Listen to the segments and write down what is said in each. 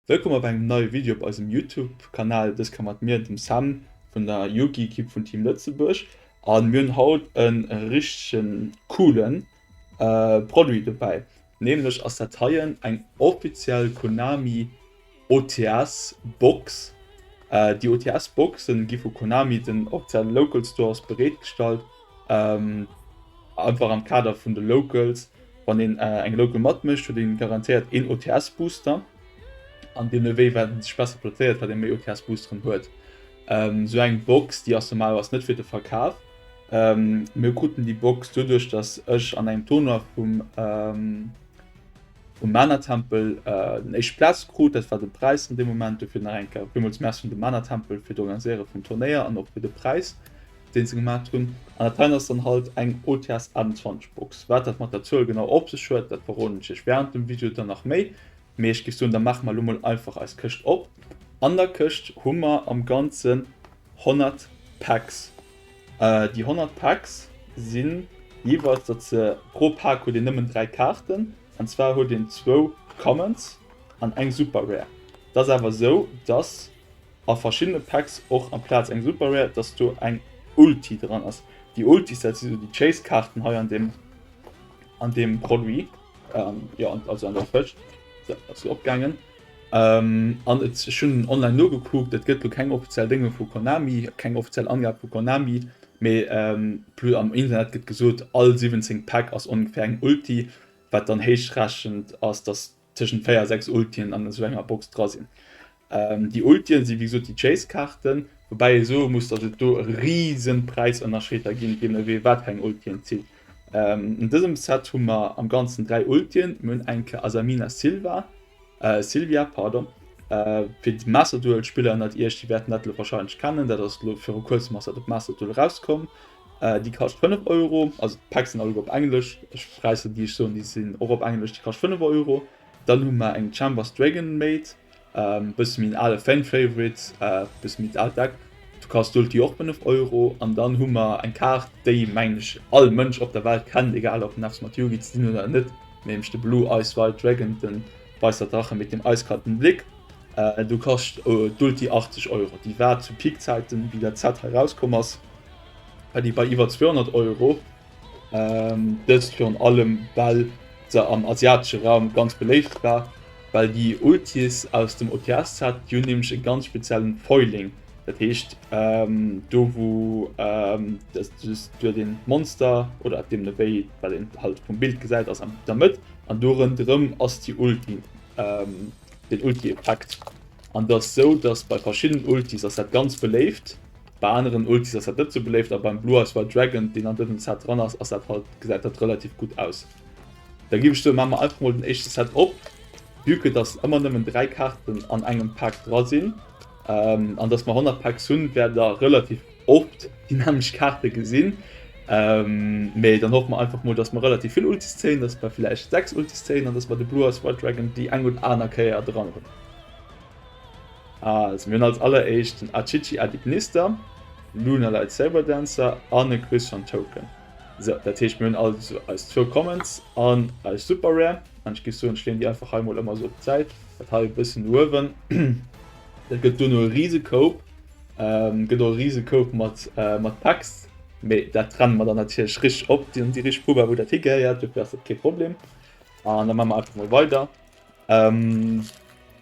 Wëllkomm op engem neie Video op eisem Youtube Kanal. Dës Kéier mat mir, dem Sam vun der Yugi Ekipp vun Team Lëtzebuerg an mir hunn haut e richtege coolen Produit dobäi. Nämlech ass dat heien eng offiziell Konami OTS Box. Déi OTS Boxen gi vu Konami den offiziellen Local Stores bereetgestallt. Einfach am Kader vun de Locals. Wann een eng Local mat mécht huet een garantéiert een OTS Booster. An deemno wéi wat een sech besser plazéiert wat een méi OTS Boosteren huet. Sou eng Box déi ass normalerweis net fir de Verkaf. Mir kruten déi Box doduerch dass ech an engem Tournoi vum vum Mana Tempel den éischt Platz krut, dat war de Präis an deem Moment. Dofir nach eng Kéier villmools Merci un de Mana Tempel fir d'Organiséiere vum Turnéier an och fir de Präis deen se gemaacht hunn. An dat hei ass dann halt eng OTS 21 Box. Wat dat mat der Zuel genau op sech huet, dat verroden ech iech während dem Video dann nach méi. Mee ech géif soen da maache mer elo mol einfach eis Këscht op. An der Këscht hu mer am ganzen 100 Packs. Déi 100 Packs sinn jeeweils, datt se, pro Pack huet een nëmmen 3 Kaarten, an zwar huet een zwou Commons an eng Super Rare. Et ass awer esou, datt a verschiddene Packs och amplaz eng Super Rare, datt do eng Ulti dran ass. Déi Ultis, dat si sou déi Chase Kaarten hei an deem, an deem Produit, jo, also an der Fësch, se ass jo opgaangen. An et, ech hunn online nogekuckt, et gëtt elo keng offiziell Dénge vu Konami, keng offiziell Angabe vu Konami, mee plus am Internet gëtt gesot, all 17 Päck ass ongeféier eng Ulti, wat dann héichrechent ass, datt tëschent 4 a 6 Ultien an esou enger Box dra sinn. Déi Ultien si wéi gesot déi Chase-Kaarten, woubäi ee soe muss, datt et do e rise Präisënnerscheed da ginn, jee nodeem, wat fir eng Ulti een zitt. An dësem Set hu mer am ganzen 3 Ultien. Mir hunn eng Ke Asamina Silva, äh, Silvia, pardon. Äh, fir déi Master-Duel Spiller ënnert iech, déi wäerten dat elo wahrscheinlech kennen, dat ass elo viru kuerzem ass dat op Master-Duel erauskomm. Äh, déi kascht 5 Euro, also d'Packs sinn alleguer op Englesch, ech räissen déi ech soen, déi sinn och op Englesch, déi kascht 5 Euro. Dann hu mer eng Chambers Dragon Maid, Ähm bësse méi en ale Fan Favorite, bësse méi d'alt Deck, du kascht do d'Joer och 5 Euro an dann hu mer eng Kaart déi mengen ech all Mënsch op der Welt kennt, egal ob en eppes mat Yugi ze dinn huet oder net, nämlech de Blue Eyes White Dragon, den Weißer Drache mit dem eiskalten Blick. Do kascht d'Ulti 80 Euro, déi war zu Peak Zäiten wéi dat Set hei rauskomm ass war déi bei iwwer 200 Euro. Ähm, dëst virun allem well se am asiatesche Raum ganz beléift war, well déi Ultis aus dem OTS-Set, déi hunn nämlech e ganz speziellen Foiling, dat heescht ähm, do wou ähm, dass du huet een d'Monster oder deem no wéi, wat een halt vum Bild gesäit, ass an der Mëtt an do rënderëm ass déi Ulti, ähm, den Ulti-Effekt an et ass esou, dass bei verschiddenen Ultis ass dat ganz beléift. Bei aneren Ultis ass dat net sou beléift, a beim Blue Eyes White Dragon deen an dësem Set dran ass, ass dat halt, gesäit dat relativ gutt aus. Da giff ech soen, maa mer einfach mol den éischte Set op, vue que dass ëmmer nëmmen 3 Kaarten an engem Pak dra sinn, an dass mer 100 Packs hunn, wäert der relativ oft déi nämlecht Kaarte gesinn. Mee dann hoffe mer einfach mol, dass mer relativ vill Ultis zéien, dass mer villäicht 6 Ultis zéien, an dass mer de Blue Eyes White Dragon déi eng oder aner Kéier dran hunn. Also mir hunn als alleréischt den Achichi Adignista, Luna Light Saber Dancer an e Christian Token. Sou, dat heescht mir hunn also eis zwou Commons an eis Super Rare an ech géif soen ech leeën déi einfach hei mol ëmmer sou op d'Säit, dat hei e bëssen uewen. Dat gëtt duerno e rise Koup, gëtt och e rise Koup mat mat Packs, mee dat trenne mer dann natierlech richteg op, déi richteg Poubelle wou dat higehéiert, dofir ass dat kee Problem. An da maache mer einfach mol weider. Ähm,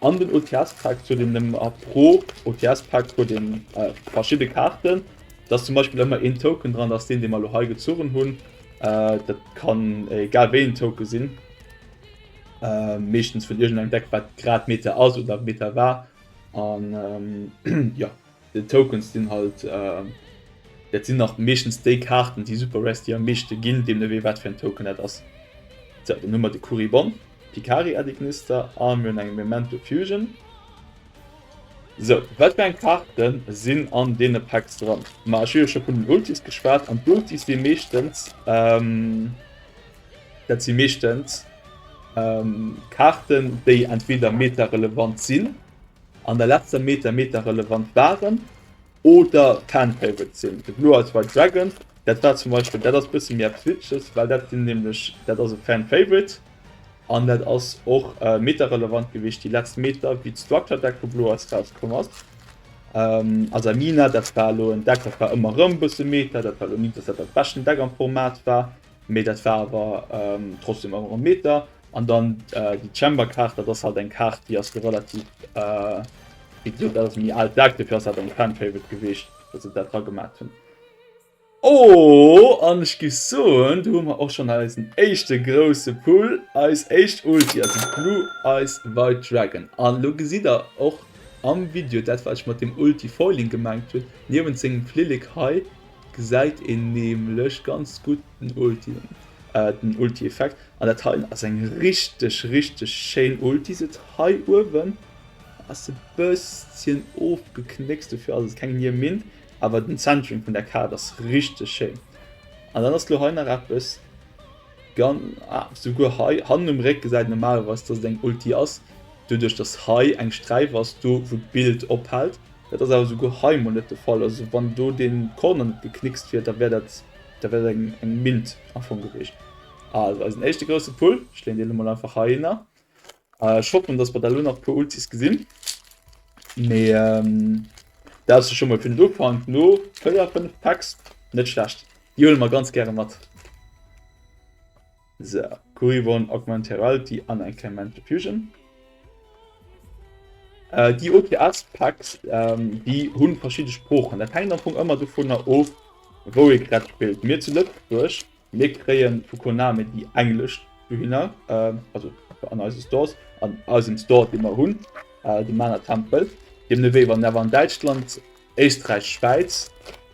an den OTS-Pack zu den ähm, a pro OTS-Pack huet den äh, verschiedene Karten. Das zum Beispiel immer en Token dran, dass den de mal hei gezogen hunn. Äh, dat kann äh, egal wéi en Token sinn. Äh, meeschtens vun irgendeinem Deck wat grad Meta ass oder Meta war. An ähm, ja, Des Tokens sinn halt, dat sinn nach meeschtens déi Kaarten, déi super rare, déi am meeschte ginn, deemno wéi wat fir en Token dat ass. Sou, dann hu mer de Kuribon, Picari Adignister a mir hunn eng Memento Fusion. Sou, wat fir eng Kaarte sinn an deene Packs dran? Ma ech hu jo scho vun den Ultis geschwat an d'Ultis si meeschtens, dat si meeschtens Kaarten, déi entweder Meta-relevant sinn An der letzter Meter Meter relevant waren oder Fan-Favorites sinn. De Blue Eyes White Dragon, dat war zum Beispill, dat ass bësse méi eppes Witzeges, well dat sinn nämlech, dat ass e Fan-Favorite an dat ass och meterrelevant gewiescht déi letzt Meter, wéi d'Structure Deck vu Blue Eyes rauskomm ass. Asamina, dat war elo en Deck, dat war ëmmer erëm bësse Meter, dat war elo ni, dass dat dat beschten Deck am Format war, mee dat war awer trotzdem ëmmer erëm Meter. An dann déi Chamber Kaart, dat ass halt eng Kaart déi ass do relativ wéi gesot dat ass e méi aalt Deck, dofir ass dat eng Fan Favorite gewiescht datt se dat dra gemat hunn. Oh an ech gi soen do hu mer och schonn eisen éischte grousse Pull, eis éischt Ulti, also Blue Eyes White Dragon. An elo gesitt der och am Video dat wat ech mat dem Ulti Foiling gemengt hunn, niewent sengem Flillek hei gesäit een nämlech ganz gutt den Ulti, den Ulti Effekt. An dat hei ass eng richteg richteg schéin Ulti, se huet hei uewen ass e bësschen ofgeknéckst, dofir ass et keng Nier Min, awer den Centering vun der Kaart ass richteg schéin. An dann ass lo hei nach eppes gan, ah souguer hei hannen um Réck gesäit een normalerweis dass et eng Ulti ass, doduerch dass hei eng Sträif ass do wou d'Bild ophält, dat ass awer souguer hei emol net de Fall, also wann do dee Corner net geknickst wier da wär dat da wär dat eng Mint am Fong gewiescht. Also eisen éischte grousse Pull, ech leen deen emol einfach heihinner. Ech hoffen dass mer da lo nach puer Ultis gesinn, mee dat ass jo scho mol fir den Ufank no 4, 5 Packs net schlecht, déi huele mer ganz gäre mat. So Kuribohn, Augmented Reality an eng kleng Mental Fusion. Déi OTS Packs déi hunn verschidde Sproochen, dat hänkt am Fong ëmmer dovunner of wou ee grad spillt. Mir zu Lëtzebuerg Mir kréien vu Konami déi englesch dohinner, also an eise Stores, an eisem Store dee mer hunn, de Mana Tempel, deemno wéi wann awer an Däitschland, Éisträich, Schwäiz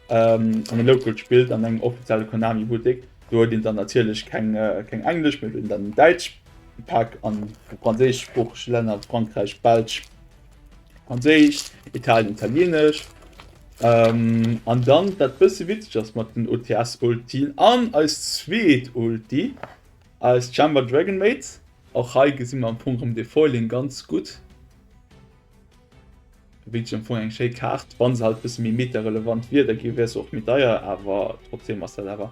an e Local spillt an engem offizielle Konami Buttek, do huet een dann natierlech keng englesch, mee huet een dann en däitsch Pak an de franséischsproochege Länner, Frankräich, Belsch. Franséisch, Italien, Italienesch an dann dat bësse witzeg ass mat den OTS-Ultien an eis zweet Ulti, eis Chamber Dragon Maid. Och hei gesi mer am Fong erëm de Foiling ganz gutt. Wierklech am Fong eng schéi Kaart. Wa se halt e bësse méi meterelevant wier, da wier se och méi deier, awer trotzdeem ass dat awer.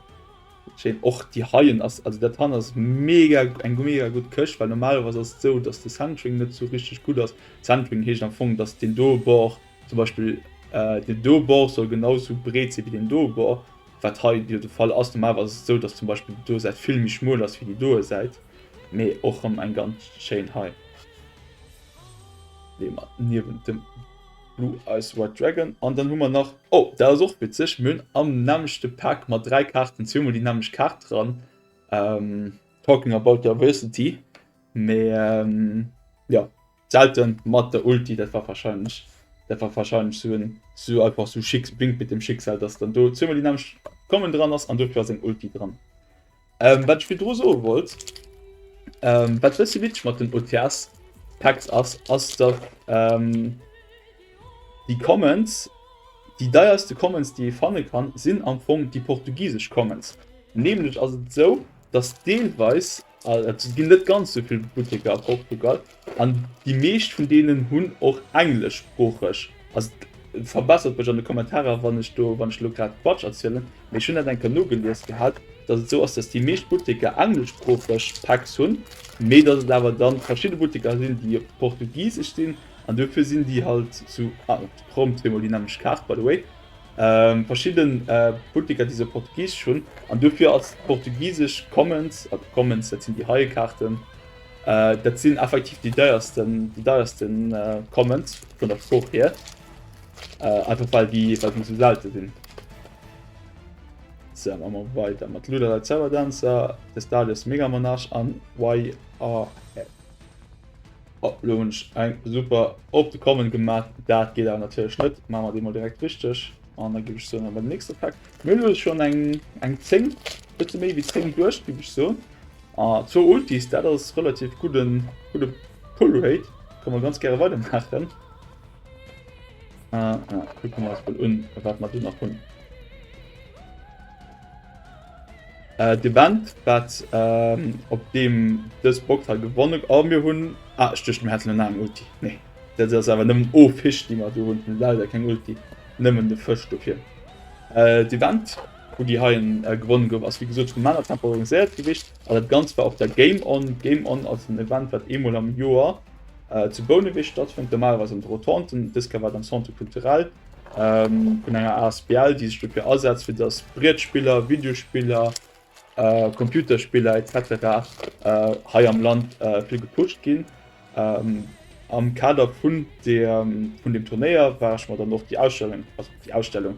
Schéin och déi heien ass, also dat han ass mega eng mega gutt Këscht, well normalerweis ass et sou dass de Centering net sou richteg gutt ass. Centering heescht am Fong dass deen doe Bord zum Beispill deen doe Bord soll genau sou breet si wéi deen doe Bord, wat hei jo de Fall ass. Normalerweis ass et sou dass zum Beispill déi doe Säit vill méi schmuel ass wéi déi doe Säit, mee och rëm eng ganz schéin hei, déi mer niewent dem. Blue Eyes White Dragon an dann hu mer nach, oh dat ass och witzeg, mir hunn am nämmlechte Pack mat 3 Kaarten zweemol déi nämmlecht Kaart dran, talking about diversity, mee jo d'Selte mat der Ulti, dat war warscheinlech dat war warscheinlech sou en sou einfach sou Schicks Wink mit dem Schicksal, dass dann do zweemol déi nämmlecht Common dran ass an dofir ass eng Ulti dran. Ähm, wat ech virdru soe wollt, ähm, wat e bëssi witzeg mat den OTS-Packs ass, ass datt ähm, déi Commons, déi deierste Commons déi ee fanne kann, sinn am Fong déi portugisesch Commons. Nämlech ass et esou, datt deelweis, also et ginn net ganz esou vill Butteker a Portugal, An déi meescht vun deenen hunn och engleschsproocheg, also verbessert mech an de Kommentarer wann ech do wann ech elo grad Quatsch erzielen, mee ech hunn dat eng Kéier nogelies gehat, datt et esou ass, datt déi meescht Butteker engleschsproocheg Packs hunn, mee datt et awer da verschidde Butteker sinn, déi op Portugisesch sinn an dofir sinn déi halt sou, ah op de Prompt huet mol déi nämlecht Kaart by the way, verschidde Butteker déi se op Portugisesch hunn an dofir ass d'Portugisesch Commons, also Commons dat sinn déi heie Kaarten. Dat sinn effektiv déi deiersten déi deierste Comments vun der Sprooch hier. Äh, einfach weil die weil die so selten sind. So, machen wir weiter mit Luda der Server Dancer, des Dalius Mega Monarch an YRF. Oh, Lunch, ein super auf die Kommen gemacht. Das geht aber natürlich nicht. Machen wir den mal direkt richtig. Und dann gebe ich so noch mal den nächsten Pack. Mir ist schon ein, ein 10, bisschen mehr wie 10 durch, gebe ich so. Ah zwou Ultis, dat ass relativ gudden gudde Pull Rate, kann mer ganz gäre weider maachen. Ah, ah, kucke mer eis mol un wat mer do nach hunn. Äh, d'Event wat ähm, op deem dës Box ha gewonnen a ah, mir hunn ah, ech duecht mir hätten en aneren Ulti. Nee, dat ass awer nëmmen o Fisch déi mer do hunn, leider keng Ulti, nëmmen de Fësch dofir. Äh, d'Event. Wou déi heien gewonnen gouf ass wéi gesot vum Männer temporariseiert gewicht an dat ganzt war op der Game On. D'Game On ass en Event wat eemol am Joer zu Bouneweg stattfënnt, normalerweis an de Rotonden. Dës Kéier war et am Centre Culturel vun enger Asbl déi sech dofir asetzt fir datt Brietspiller, Videospiller, Computerspiller etc hei am Land vill gepusht ginn. Am Kader vun dem Turnéier war ech mer dann och déi Ausstellung, also déi Ausstellung,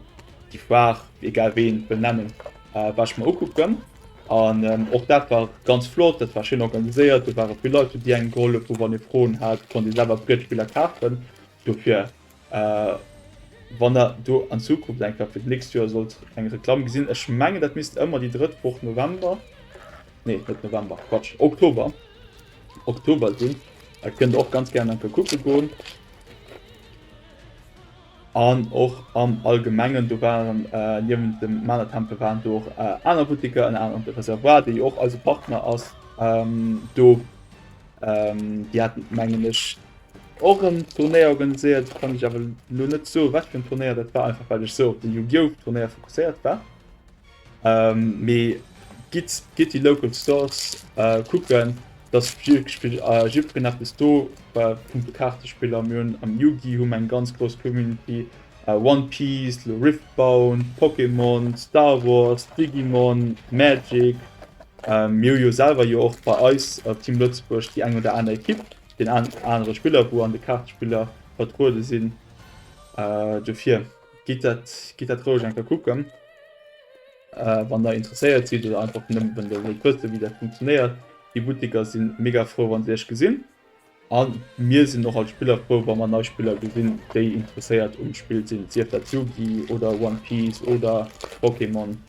déi Foire, wéi egal wéi een et wëll nennen, war ech mer ukucken. An och dat war ganz flott, dat war schéin organiséiert, do ware vill Leit do, déi engem gehollef hu wann ee Froen hat, konnt ee selwer Brietspiller kafen. Dofir wann der do an Zukunft eng Kap fir d'nächst Joer sollt eng Reklamm gesinn, ech mengen dat misst ëmmer déi drëtt Woch November, nee net November, Quatsch, Oktober, Oktober sinn, da kënnt der och ganz gären enke kucke goen. An och am Allgemengen, do waren äh, niewent dem Maler Tempel waren do och äh, aner Buttiker, en aneren Reservoir, déi och eise Partner ass, ähm, do ähm, déi hatten mengen ech Och en Turnéier organiséiert, kann ech awer lo net soen wat fir en Turnéier dat war, einfach well ech sou op de Yu-Gi-Oh! Turnéier fokusséiert war. Mee gitt, gitt déi Local Stores kucken, et ass wierklech fir jiddwereen eppes do a punkto Kaartespiller. Mir hunn am Yu-Gi hu mer eng ganz grouss Community, One Piece, lo Riftbound, Pokémon, Star Wars, Digimon, Magic. Mir hu jo selwer jo och bei eis, Team Lëtzebuerg, déi eng oder aner Ekipp. Den anere Spiller, wou an de Kaartespiller vertruede sinn. Dofir gitt dat roueg eng Kéier kucken, wann der interesséiert sidd oder einfach nëmmen wann der wëllt wëssen, wéi dat funktionéiert. Déi Butteker si mega frou, wann se iech gesinn. A mir sinn och als Spiller frou, wa mer nei Spiller gesinn, déi interesséiert um Spill sinn, sief dat Yu-Gi oder One Piece oder Pokémon.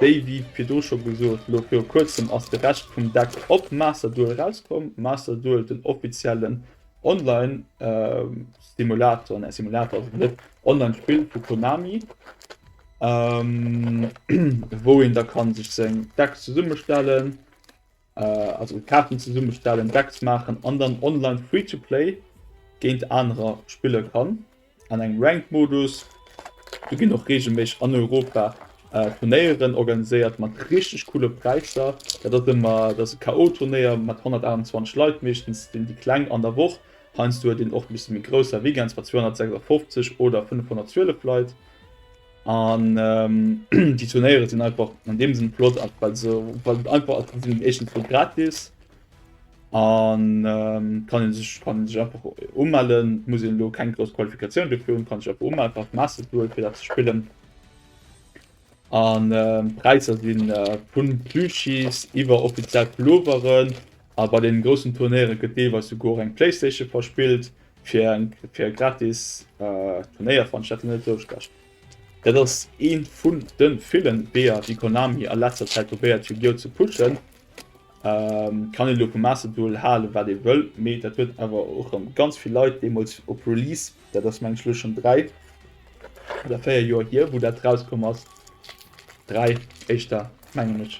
Déi wéi virdu scho gesot, lo viru kuerzem ass de Rescht vum Deck op Master Duel erauskomm. Master Duel, den offiziellen Online Simulator, ne Simulator ass et net, Online Spill vu Konami, wou een da kann sech seng Deck zesummestellen. Also Kaarten zesummestellen, Decks maachen an dann online Free-to-Play géint anerer spille kann an engem Ranked Modus. Do ginn och reegelméisseg an Europa Turnéieren organiséiert mat richteg coole Präisser. Dat ass ëmmer dat ass e KO-Turnéier mat 128 Leit, meeschtens sinn déi Kleng an der Woch. Heiansdo huet een och e bësse méi grousser, Weekends mat 256 oder 512 Leit. An déi Turnéiere sinn einfach an deem Sinn flott, well se einfach sinn éischtens fir gratis an kann ee sech kann ee sech einfach umellen, muss een elo keng grouss Qualifikatioun dofir hunn, kann sech einfach umellen, brauch kee Master ze huelen, fir dat ze spillen. An d'Präisser sinn, vu Plüschis iwwer offiziell Pulloveren, A bei den groussen Turnéiere gëtt deelweis souguer eng Playstation verspillt fir e gratis Turnéierveranstaltungstouschlag. Dat ass ee vun de villen Weeër déi Konami a letzter Zäit probéiert Yu-Gi-Oh! Ze pushen. Kann een elo vum Master Duel halen wat ee wëll, mee dat huet awer och erëm ganz vill Leit deemools op Release, dat ass mengen ech elo schonn 3 oder 4 Joer hier wou dat rauskomm ass, 3 éischter mengen ech,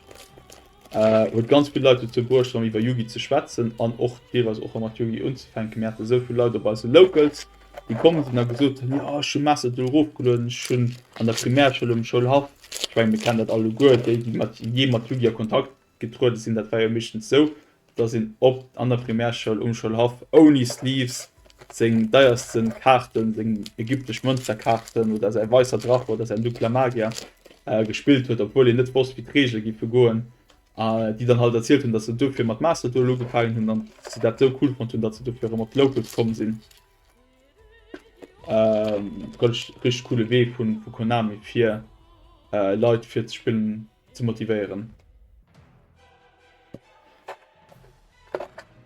Huet ganz vill Leit dozou bruecht erëm iwwer Yugi ze schwätzen an och deelweis och erëm mat Yugi unzefänken. Mir hate sou vill Leit op eise Locals déi komm sinn a gesot hunn, jo ech hu Mass et elo erofgelueden, ech hunn an der Primärschoul um Schoulhaff, ech menge mir kennen dat alleguer, déi déi mat jee mat Yugi a Kontakt getruede sinn, dat war jo meeschtens sou, dass een op an der Primärschoul um Schoulhaff ouni Sleeves seng deiersten Kaarten, seng ägyptesch Mënzerkaarten oder säi Weisser Drache oder säin Dunkler Magier gespillt huet, obwuel een net wosst wéi d'Reegele giffe goen, a déi dann halt erzielt hunn, dass se dofir mat Masterduel ugefaangen hunn an se dat esou cool fonnt hunn, dass se dofir erëm op d'Locals komm sinn. Richteg coole Wee vu Konami fir Leit fir ze spillen. ze motivéieren.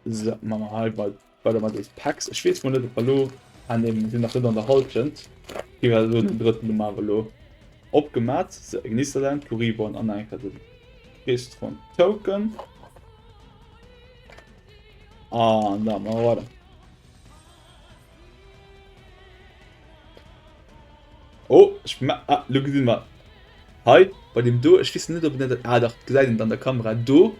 So, machen wir halt mal weiter mal des Packs. Ich weiß mal nicht, ob wir lo an dem sind nach nicht an der Halbzeit. Hier war so den dritten Nummer lo abgemacht. So, Gnisterland, Kuribon, an dann den Rest von Token. Ah, da machen wir weiter. Oh, ich ma ah, lo gesinn mer hei bei dem do, ech wissen net op net ah, dach gesäit een an der Kamera do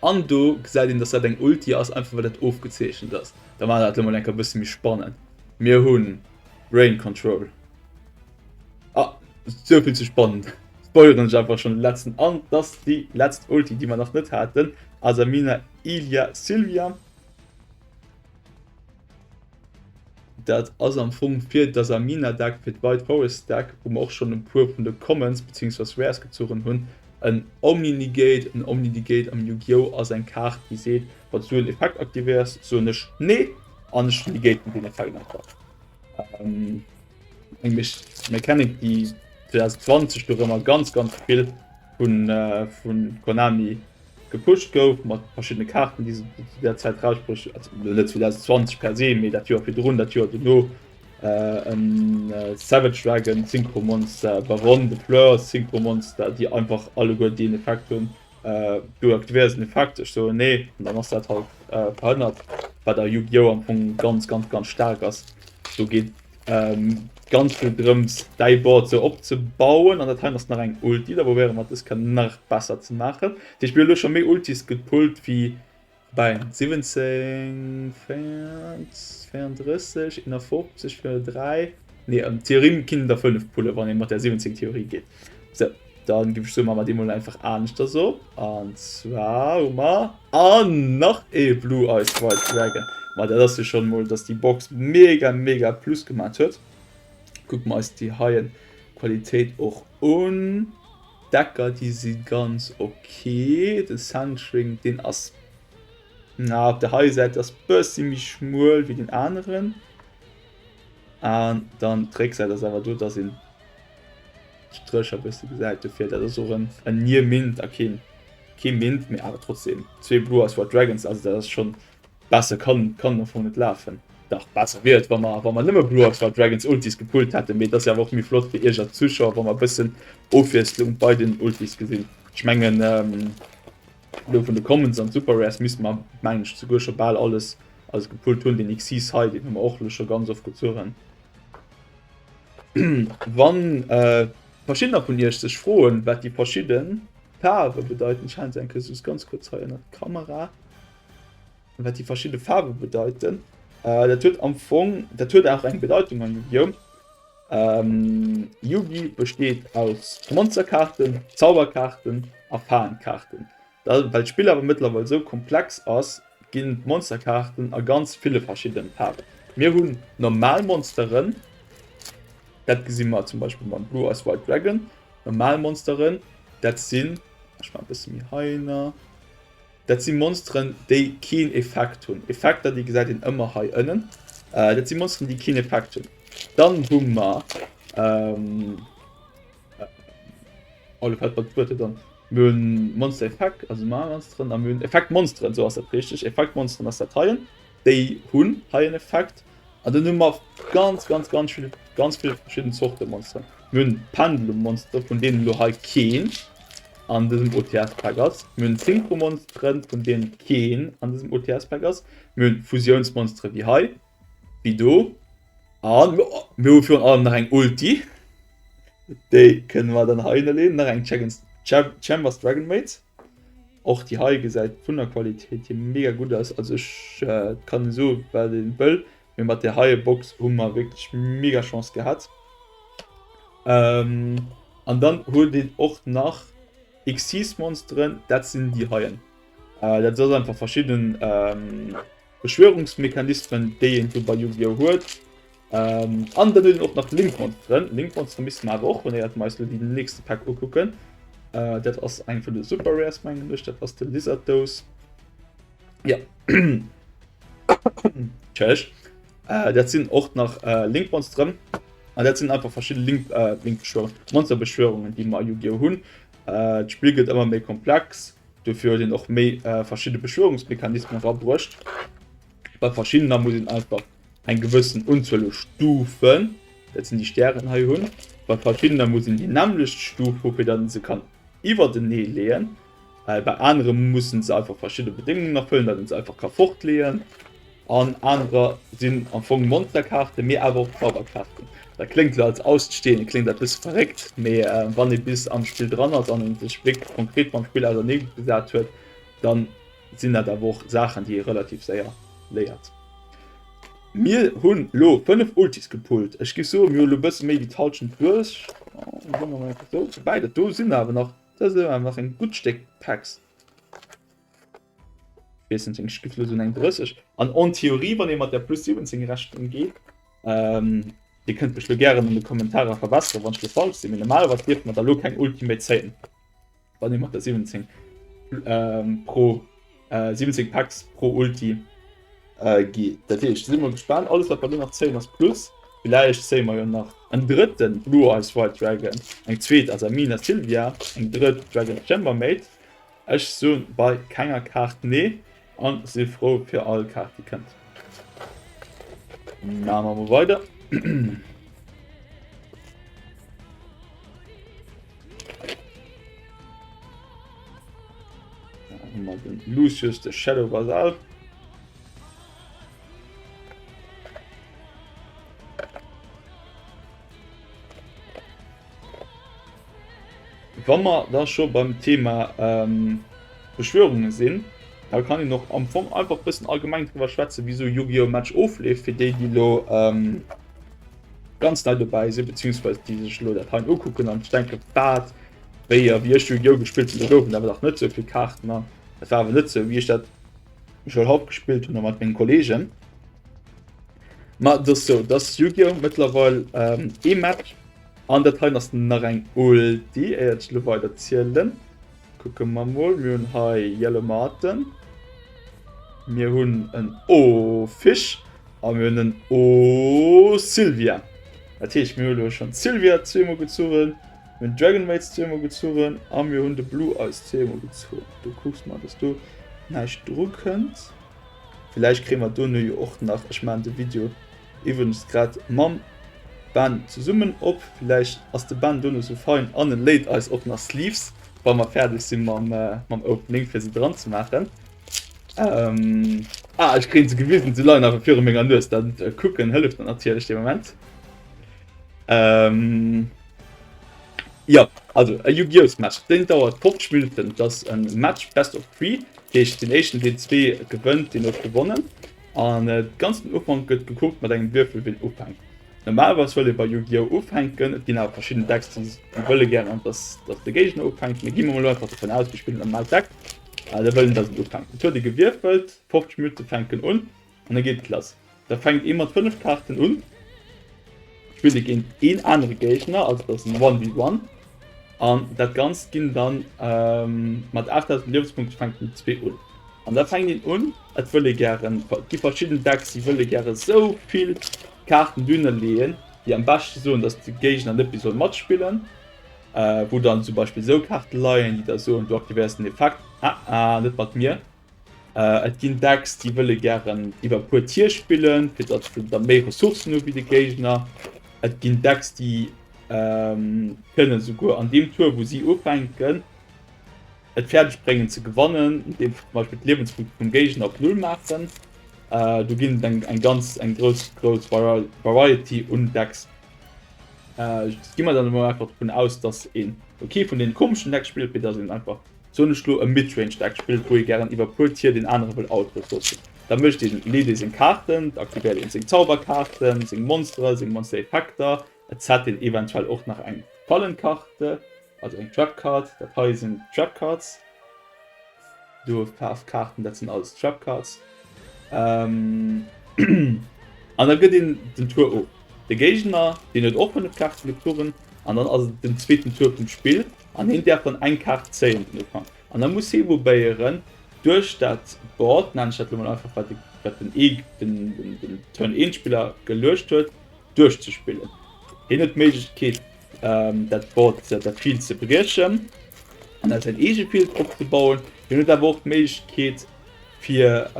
an do gesäit een, dass dat eng Ulti ass einfach well dat ofgezeechent ass. Da war dat lo mol enker bësse méi spannend. Mir hunn Brain Control. Ah, souvill ze spannend. Spoileren ech einfach schon den letzten an, dass déi letzt Ulti, déi mer nach net haten, Asamina Ilia Sylvia. Dat ass am Fong fir dass am Mina Deck fir d'White Forest Deck, wou mer och schonn e puer vun de Commons beziehungsweise Rares gezuchen hunn, en Omni-Negate, en Omni-Negate am Yu-Gi-Oh! Ass eng Kaart déi seet, wann s du en Effekt aktivéiers, soen ech Nee an ech negaten deen Effekt einfach. Eng Mechanik déi 2020 dorëmmer ganz ganz vill vu Konami Gepusht gouf mat verschiddene Kaarten, déi se zu där Zäit erausbruecht hunn, also net 2020 per se, mee dat Joer virdrun, dat Joer dono, e Savage Dragon, Synchro Monster, Baronne de Fleurs, Synchro Monster, déi einfach alleguer deen Effekt hunn, do e diversen Effekt, ech soen nee, an dann ass dat halt verhënnert, wat a Yu-Gi-Oh! Am Fong ganz, ganz, ganz staark ass. Do geet Ähm, ganz vill drëms däi Board so opzebauen an dat hei ass nach eng Ulti, da probéiere mat dës kann nach besser ze maachen. Dich mir lo schon méi Ultis gepult wie bei 17 34 in der 50 für 3 nee, ähm, Theorien kinnen der 5 pulle wann ee mat der 17 Theorie geet. Sou, dann ginn ech soumat mei déi mol einfach aaneschters op, an zwar hun mer an nach ee Blue Eyes White Dragon. Mei dat ass jo schon mol dass déi Box mega mega Plus gemaat huet. Kucken mer eis déi heien Qualitéit och un. Decker déi si ganz ok, den Centering deen ass na op der heier Säit ass bessi méi schmuel wéi den aneren, an dann d'Récksäit ass awer do dass een Stréch a bësse gesäit dofir. Dat ass och en Nier Mint a kee kee Mint, mee awer trotzdeem zwee Blue Eyes White Dragons. Also dat ass schonn besser kann kann am Fong net lafen. Dach besser wier et wa mer wa mer nëmme Blue Eyes White Dragons Ultis gepullt hätten, mee et ass jo awer och méi flott fir iech als Zuschauer wa mer e bëssen Ofwiesslung bei den Ultis gesinn. Ech mengen elo vun de Commons an Super Rares misste mer mengen ech souguer scho bal alles alles gepullt hunn. Den Xyz hei deen hu mer och elo scho ganz oft gezuch. Wann äh, verschiedener vun Iech sech froen, wat déi verschidden Faarwe bedeiten, ech halen se enke soss ganz kurz hei ënnert d'Kamera, wat déi verschidde Faarwe bedeiten, äh, dat huet am Fong, dat huet auch eng Bedeutung an Yu-Gi-Oh! Ähm, Yugi besteet aus Monsterkaarten, Zauberkaarten a Faenkaarten. Well d'Spill awer mëttlerweil sou komplex ass, ginn d'Monsterkaarten a ganz ville verschiddenen Faarwen. Mir hunn normal Monsteren, dat gesi mer zum Beispill mam Blue Eyes White Dragon, normal Monsteren, dat sinn, ech maachen e bësse méi heihinner, dat si Monsteren, déi keen Effekt hunn, Effekter, déi gesäit een ëmmer hei ënnen, dat si Monsteren, déi keen Effekt hunn. Dann hu mer, oh lo fält mer d'Wuert net an. Mir hunn Monster Effect, also normal Monsteren, a mir hunn Effect Monsteren, esou ass dat richteg. Effect Monsteren ass dat heien. Déi hunn hei en Effekt. An dann hu mer ganz ganz ganz vill ganz vill verschidden Zorte Monsteren. Mir hunn Pendulum Monstere, vun deenen elo hei keen an dësem OTS Pack ass. Mir hunn Synchro Monsteren, vun deenen keen an dësem OTS Pack ass. Mir hunn Fusiouns Monstere wéi hei. Wéi do. An mir hu virun allem nach eng Ulti. Déi kënne mer dann hei hinneleeën. Nach eng Chaggens Cham Chambers Dragon Maid. Och déi hei gesäit vun der Qualitéit hier mega gutt aus. Also ech kann en soe wat en wëll, mee mat där heie Box hu mer wierklech mega Chance gehat. An dann huet een och nach Xyz Monsteren. Dat sinn déi heien. Dat ass einfach verschidden Beschwörungsmechanismen déi een sou bei Yu-Gi-Oh! Huet. Ähm, an dann hun och nach Linkmonsteren. Linkmonsteren misste mer awer och hunn, éiert mer eis lo déi nächste Pack ukucken. Äh, dat ass eng vun de Super Rares mengen ech, dat ass de Lizard Dose. Ja. Tschech. Äh, dat sinn och nach äh, Linkmonsteren. An dat sinn einfach verschidde Link, äh, Linkbeschwörungen, Monsterbeschwörungen, déi mer a Yu-Gi-Oh! hunn. Äh, D'Spill gëtt ëmmer méi komplex. Dofir huet een och méi verschidde Beschwörungsmechanismen erabruecht. Bei verschiddener muss een einfach eng gewëssen Unzuel u Stufen, dat sinn déi Stären hei, hunn. Bei verschiddener muss een déi nämmlecht Stuf hu fir datt een se kann iwwertenee leeën. Bei anere musse se einfach verschidde Bedéngungen erfëllen, datt een se einfach ka fortleeën. An anerer sinn am Fong Monsterkaarten, mee awer och Zauberkaarten. Dat kléngt elo als Aussteeëne kléngt dat e bësse verréckt, mee wann ee bis am Spill dran ass an ee sech wierklech konkret mam Spill ausernee gesat huet, da sinn dat awer och Saachen, déi ee relativ séier léiert. Mir hunn elo 5 Ultis gepullt. Ech géif soe mir hu elo e bësse méi wéi d'Hallschent duerch. Wéi dat do sinn awer nach, do si nach e gutt Stéck Packs. Wessen seng Skiff lo sinn eng 30 an en Theorie wann ee mat der plus 17 rechnen geet. Ähm dir kënnt mech lo gären an de Kommentarer verbesseren wann ech lo falsch sinn mee normalerweis dierft mer da lo keng Ultimate zéien wann ee mat der 17 ähm pro äh 17 Packs pro Ulti äh geet. Dat heescht si mol gespaant, alles wat mer lo nach zéien ass plus, villäicht zéie mer jo nach en drëtten Blue Eyes White Dragon, eng zweet Asamina Sylvia, eng drëtt Dragon Chambermaid. Ech soen bei kenger Kaart nee an sinn frou fir all Kaart déi kënnt. Maan mer mol weider. Lucius de Shadow Basal. Wa mer da scho beim Thema Beschwörunge sinn, da kann een och am Fong einfach e bëssen allgemeng driwwer schwätzen, wéi esou Yu-Gi-Oh! Match ofleeft, fir déi, déi elo ganz nei dobäi sinn, beziehungsweise déi sech elo dat hei ukucken an sech denken, Wat? Wéi a wéi ech Yu-Gi-Oh! gespillt hunn, do goufen awer dach net esou vill Kaarten an et war awer net esou, wéi ech dat elo haut gespillt hunn a mat mengen Kolleegen. Ma et ass sou, dass Yu-Gi-Oh! Mëttlerweil ee Match, an dat heien ass nach eng Ulti, éier ech elo weider zielen. Kucke mer mol, mir hunn hei Yellow Marten, mir hunn en O-Fisch a mir hunn en O-Sylvia. Dat heescht, mir hu elo schonn d'Sylvia zweemol gezugen, mir hunn d'Dragon Mates zweemol gezugen a mir hunn de Blue Eyes zweemol gezugen. Du kucks mol, dass do näischt drukënnt. villäicht kréie mer dono jo och nach, ech maachen de Video iwwregens grad mam Ben zesummen op, villäicht ass de Ben dono sou fein an e léit eis och nach Sleeves, wa mer fäerdeg si mam Opening, fir se dran ze maachen. Ah, ech kréien se gewisen, se leien awer viru menger Nues, dat kucken hëlleft mer natierlech dee Moment. Jo, also e Yu-Gi-Ohs-Match, deen dauert 50 Minutten. Et ass e Match Best of Three, dat heescht, deen Éischten, deen zwee gewënnt, deen huet gewonnen. An de ganzen Ufank gëtt gekuckt mat engem Würfel, wien ufänkt. Normalerweis wëll ee bei Yu-Gi-Oh! ufänken. Et ginn awer verschidden Decks, déi wëlle gären, dass de Géigner ufänkt. Mee gi mer emol einfach dovun aus, mir spillen e normalt Deck, da wëll een, dass en ufänkt. Et huet ee gewierfelt, 50 Minutte fänken un. An da geet et lass. Da fänkt ee mat 5 Kaarten un, spillt e géint een anere Géigner, also dat ass en One vs One. An dat Ganzt ginn dann mat 8000 Liewenspunkte fänkt den zwee un. An da fänkt een un, et wëll ee gären, et gi verschidden Decks, déi wëlle gäre esou vill Kaarten dunner leeën, déi am beschte soen, datt de Géigner net méi soll matspillen. Wou dann zum Beispill esou Kaarte leien, déi da soen, du aktivéiers den Effekt, Ah ah, net mat mir. Äh, et ginn dacks déi wëlle gären iwwer puer Tier spillen, fir datt se da méi Ressourcen hu wéi de Géigner. Et ginn dacks déi ähm, kënnen souguer an deem Tour, wou si ufänken, et fäerdeg bréngen ze gewannen, deem zum Beispill d'Liewenspunkte vum Géigner op Null maachen. Äh, do ginn eng, eng ganz eng grouss grouss Variety un Decks. Äh, gi mer dann emol einfach dovun aus, datt een okay vun den komischen Deck spillt, fir datt een einfach soen ech lo, e Midrange Deck spillt, wou ee gären iwwer puer Tier deen anere wëll Output loossen, da mécht deen Leadé seng Kaarten, da aktivéiert een seng Zauberkaarten, seng Monsteren, seng Monster Effekter, et set een eventuell och nach eng Fallenkarte, also eng Trap Card, dat hei sinn Trap Cards, do kaaft Kaarten, dat sinn alles Trap Cards, an da gëtt een den Tour of. De Géigner, deen huet och 5 Kaarten, gëtt Touren, an dann ass et den zweeten Tour vum Spill. An hien däerf dann eng Kaart zéien den Ufank. An da muss hie probéieren, duerch dat Board, nenne ech dat elo mol einfach, wat den Turn-1-Spiller geluecht huet, duerchzespillen. Hien huet d'Méiglechkeet, dat Board, dat Field ze briechen an da säin eege Field opzebauen. Hien huet awer och d'Méiglechkeet, fir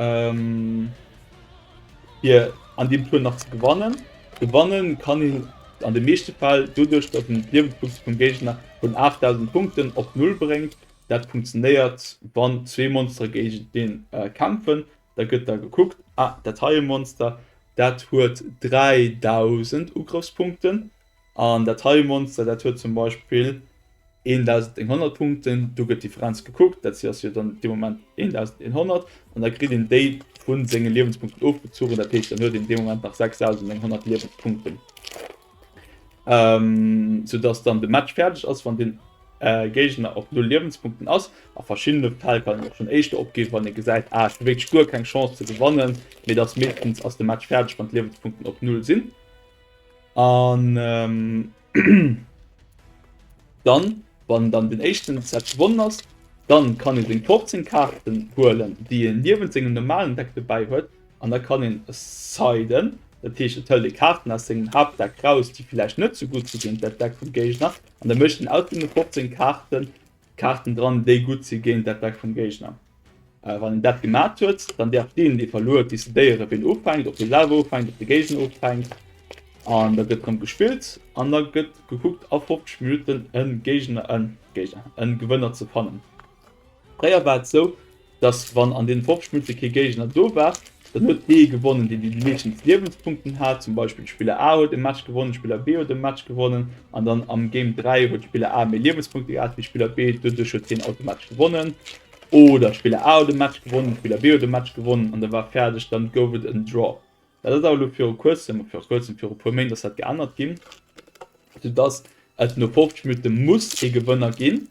fir an dem Tour nach ze gewannen. Gewannen kann een an de meeschte Fäll doduerch, datt een d'Liewenspunkte vum Géigner vun 8.000 Punkten op Null bréngt. Dat funktionéiert, wann zwee Monstere géigetenee kämpfen. Da gëtt da gekuckt, Ah, dat heie Monster, dat huet 3.000 Ugrëffspunkten. An dat heie Monster, dat huet zum Beispill 1.100 Punkten, do gëtt d'Differenz gekuckt, dat ass jo dann dee Moment 1.100, an da kritt een déi vu senge Liewenspunkten ofgezuchen, dat heescht, dann huet een dee Moment nach 6.100 Liewenspunkten. Soudatt dann de Match fäerdeg ass, wann dee Géigner op null Liewenspunkten ass. A verschiddene Fäll kann een och schonn éischter opginn, wann ee gesäit, ah ech hu wierklech guer keng Chance ze gewannen, mee et ass meeschtens ass de Match fäerdeg, wann d'Liewenspunkten op null sinn. An dann, wann dann den éischten Set gewonnen ass, dann kann een seng 15 Kaarten huelen, déi een niewent sengem normalen Deck dobäi huet. An da kann een, es sei denn, dat heescht et hëlt ee Kaarten aus sengem Haaptdeck raus, déi villäicht net sou gutt si wéi dat Deck vum Géigner, an da mécht een aus deene 15 Kaarten, Kaarten dran déi gutt si géint d'Attack vum Géigner. Wann een dat gemat huet, dann däerf deen dee verluer huet decidéieren ween ufänkt, ob hie selwer ufänkt, ob de Géigner ufänkt an da gëtt drëm gespillt an da gëtt gekuckt a 50 Minutten e Géigner, e Géigner, e Gewënner ze fannen. Fréier war et sou, dass wann an deene 50 Minutte kee Géigner do war, dann huet dee gewonnen, deen déi déi meeschtens Liewenspunkten hat. Zum Beispill Spiller A huet e Match gewonnen, Spiller B huet e Match gewonnen an dann am Game 3 huet Spiller A méi Liewenspunkte gehat wéi Spiller B, doduerch huet hien automatesch gewonnen. Oder Spiller A huet e Match gewonnen, Spiller B huet e Match gewonnen an da war fäerdeg, dann gouf et en Draw. Dat ass awer elo viru kuerzem, viru kuerzem, viru puer Méint ass dat geännert ginn, soudass et no 50 Minutte muss ee Gewënner ginn.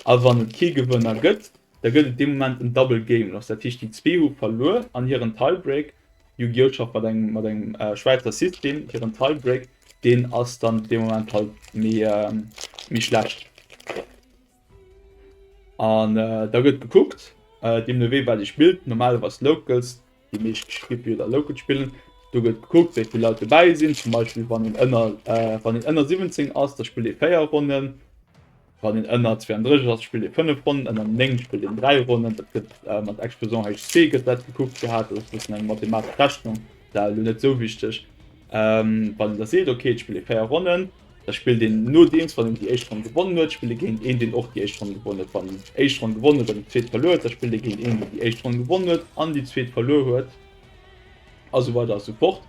A wann et kee Gewënner gëtt, da gëtt et dee Moment en Double Game Loss. Dat heescht, déi zwee hu verluer an hiren Tie-Break, Yu-Gi-Oh! Schafft mat engem, mat engem Schwäizer System, hiren Tie-Break, deen ass dann dee Moment halt méi, méi schlecht. An da gëtt gekuckt, deemnowéi wat ee spillt, normalerweis Locals, déi meescht Spieljoer Locals spillen. Do gëtt gekuckt, wéi vill Leit dobäi sinn. Zum Beispill wann een ënner wann een ënner 17 ass, da spillt ee 4 Ronnen. Wann een ënner 32 ass, spillt ee 5 Ronnen, ënner 9 spillt een 3 Ronnen. Dat gëtt mat Exposant HC gëtt dat gekuckt gehat. Dat ass e bëssen eng mathematesch Rechnung, dat ass elo net esou wichteg. Wann een da seet, ok, et spillt ee 4 Ronnen, da spillt een nodeems, wann een déi éischt Ronn gewonnen huet, spillt ee géint een, deen och déi éischt Ronn gewonnen huet. Wann een déi éischt Ronn gewonnen huet an déi zweet verluer huet, da spillt ee géint een, deen déi éischt Ronn gewonnen huet an déi zweet verluer huet, a sou weider a sou fort.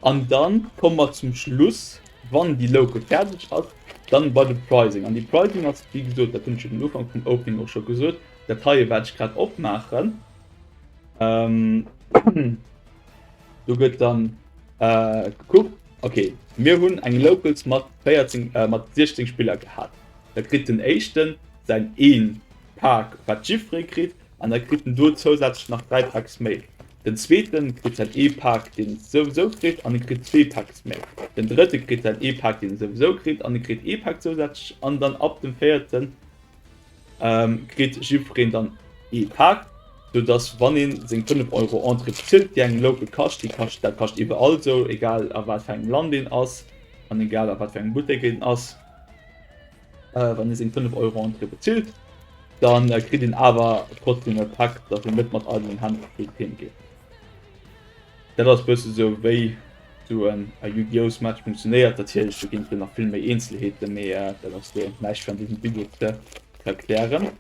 An da komme mer zum Schluss, wann déi Loupe fäerdeg ass, dann bei de Prizing. An de Prizing ass, wéi gesot, dat hunn ech jo den Ufank vum Opening och scho gesot, dat heie wat ech grad opmaachen. Du gëtt dann äh, gekuckt. Okay, mir hunn eng Locals mat 14 äh, mat 16 Spiller gehat. Da kritt den Éischten säin een Pak, wat Giffrey kritt, an da kritt en do zousätzlech nach dräi Packs méi. Den Zweeten kritt säin ee Pak, deen e souwisou kritt, an e kritt zwee Packs méi. Den Drëtte kritt säin ee Pak, deen e souwisou kritt, an e kritt ee Pak zousätzlech. An dann ab dem Véierten. ähm, kritt jiddwereen dann ee Pak, soudass wann een seng 5 Euro Entrée bezilt, déi engem Local kascht, déi kascht, dat kascht iwwerall esou, egal a wat fir engem Land een ass an egal a wat fir engem Buttek een ass, äh, wann een seng 5 Euro Entrée bezilt, dann äh, kritt een awer trotzdem e Pak, dass een net mat eidelen Hänn op d'Bühn heemgeet. Dat ass bëssen esou wéi esou en a Yu-Gi-Oh's Match funktionéiert. Natierlech do ginn et elo nach vill méi Eenzelheeten, mee dat ass elo näischt fir an dësem Video ze erklären.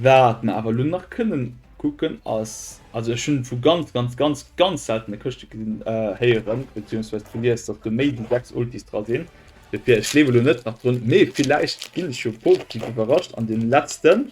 Wat mer awer elo nach kënnen kucken ass, also ech hunn vu ganz ganz ganz ganz seltene Këschte gesinn, héieren beziehungsweise gelies, dass do méi wéi 6 Ultis dra sinn. Dofir, ech gleewen elo net nach drun, mee villäicht ginn ech jo positiv iwwerrascht an deem letzten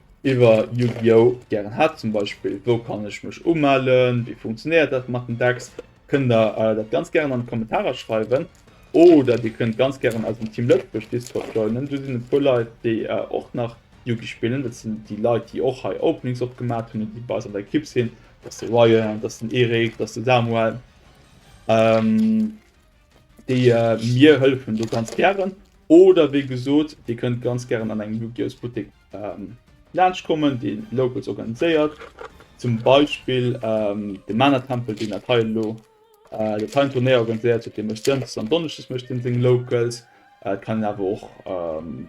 iwwer Yu-Gi-Oh! gären hat, zum Beispill wou kann ech mech umellen, wéi funktionéiert dat mat den Decks, kënnt der dat ganz gären an d'Kommentarer schreiwen oder dir kënnt ganz gären eisen Team Lëtzebuerg Discord joinen, do sinn e puer Leit déi och nach Yugi spillen, dat sinn déi Leit déi och hei Openings opgemaat hunn an déi bei eis an der Ekipp sinn, dat ass de Ryan, dat ass den Eric, dat ass de Samuel. déi mir hëllefen do ganz gären. Oder wéi gesot, Dir kënnt ganz gären an engem Lugios Buttek laanscht kommen, dee Locals organiséiert. Zum Beispill de Mana-Tempel, deen dat hei elo, dat hei en Turnéier organiséiert huet, dee mécht Dënschdes an Donneschdes mécht en seng Locals. Et kann een awer och,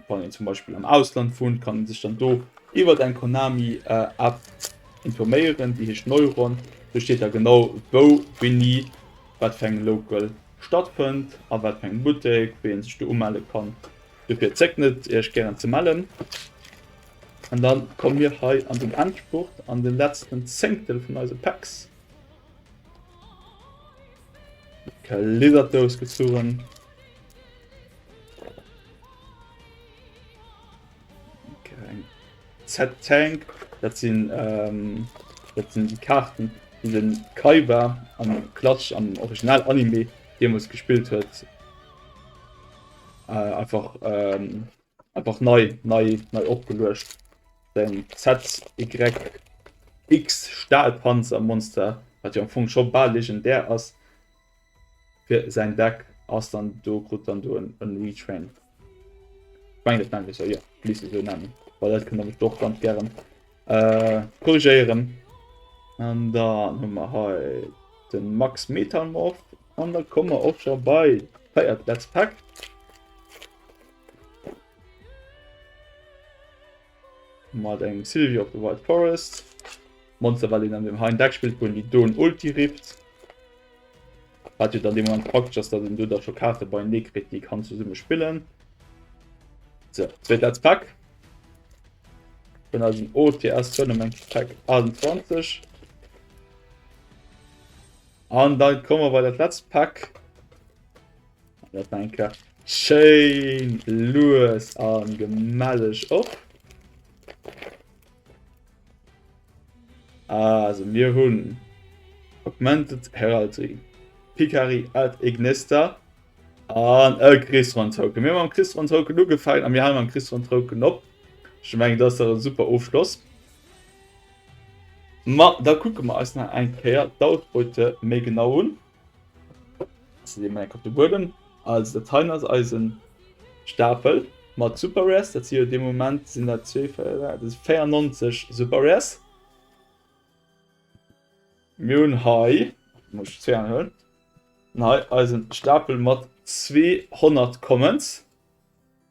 wann een zum Beispill am Ausland wunnt, kann ee sech dann do iwwert eng Konami-App informéieren, déi heescht Neuron. Do steet da genau, wou, wéini. wat fir eng Local stattfënnt a wat fir eng Buttek, wéi ee sech do umelle kann. Dofir zéckt net, Iech gären ze mellen. An da komme mir hei an den Endspurt, an de letzten Zéngtel vun eise Packs. Geliddert Dous gezurren. Z-Tank, dat sinn dat sinn déi Kaarten, déi de Kaiba am Clutch am Original-Anime deemools gespillt huet. Äh, einfach, ähm, einfach nei, nei, nei opgeluecht. Den ZYX-Stahlpanzer-Monster, wat jo am Fong scho bal legendär ass. Fir säin Deck ass dann do krut dann do en Retrain. Meng dat nennt jo liicht esou nennen, Well dat kënnt mech och ganz gären äh, korrigéieren. An dann hu mer hei de Max Metalmorph an da komme mer och scho bei feiert Let's Pack. Mal den Sylvie of the Wild Forest. Monster war den an dem Hein Deck spielt, wo die Don Ulti rippt. Hat dann dem Moment praktisch, dass dann du da schon Karte bei Nick kriegt, die kann zusammen spielen. So, zweiter als Pack. Bin also ein OTS Tournament Pack 28. Und dann kommen wir bei das letzte Pack. Dat war eng Kar. Schéin lues an gemelleg op. Also mir hunn Augmented Heraldry, Picari ad Ignesta an e Chris van Token. Mir mam Chris van Token ugefang a mir halen am Chris van Token op. Ech meng dat ass e super Ofschloss. Ma da kucke mer eis nach eng Kéier d'Outpute méi genau un. Mac op de Buedem als der Teil als Eisen Stapel mat Super Res dat si de Moment sinn der 24 Super Res Miun Hai hëll Nei Eisen Stapel mat 200 Commons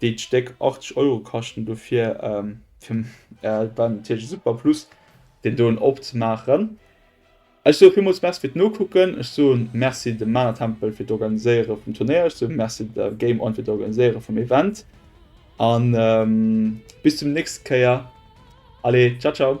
déi d'Stéck 80 Euro kaschten, dofir fir et war natierlech e super Plus deen doen opzemaachen. Ech soe villmools Merci fir d'Nokucken, ech soe Merci dem Mana Tempel fir d'Organiséiere vum Turnéier, ech soe Merci der Game On fir d'Organiséiere vum Event an bis zum nächste Kéier, allez ciao ciao.